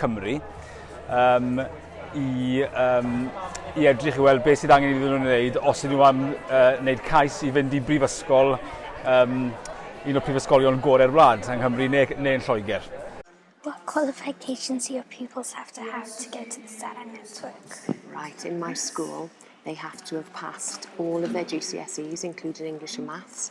Cymru um, i, um, i edrych i weld beth sydd angen iddyn nhw'n gwneud os ydyn nhw am uh, wneud cais i fynd i brifysgol um, un o'r prifysgolion gorau'r wlad yng Nghymru neu, neu yn Lloegr. What qualifications do your pupils have to have to go to the Starang Network? Right, in my school, they have to have passed all of their GCSEs, including English and Maths,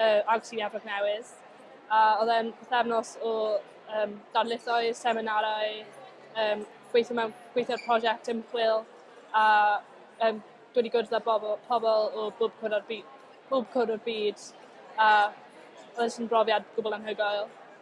yy agos i Nefrog Newydd a o'dd e'n pythefnos o yym darlithoedd, seminarau yym gweitho mewn gweitho ar prosiect ymchwil a yym dod i gwrdd â bobl pobl o bob cwr o'r by- bob cwr o'r byd a o'dd e jyst yn brofiad gwbwl anhygoel.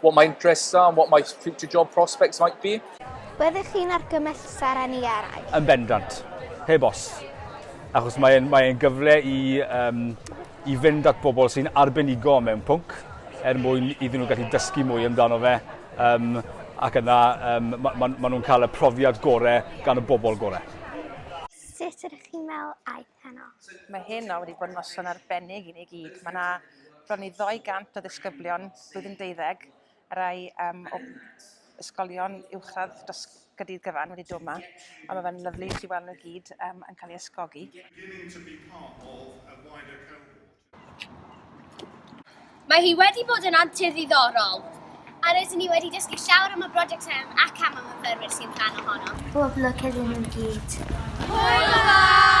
what my interests are and what my future job prospects might be. Byddech chi'n argymell Saran i eraill? Yn bendant, heb os. Achos mae'n mae gyfle i, um, i fynd at bobl sy'n arbenigo mewn pwnc er mwyn iddyn nhw gallu dysgu mwy amdano fe um, ac yna um, maen ma, ma nhw'n cael y profiad gorau gan y bobl gorau. Sut ydych chi'n meddwl aeth heno. Mae heno wedi bod yn noson arbennig i ni gyd. Mae yna bron i 200 o ddisgyblion blwyddyn deuddeg, y rai um, o ysgolion uwchradd dros gydydd gyfan wedi dod yma, a mae fe'n lyflu i chi weld nhw gyd um, yn cael ei ysgogi. Mae hi wedi bod yn antur ddiddorol. Rydyn ni wedi dysgu llawer am y brosiect hwn ac am y myfyrwyr sy'n rhan ohono. Pob lwc iddyn nhw i gyd. Hwyl yn fawr!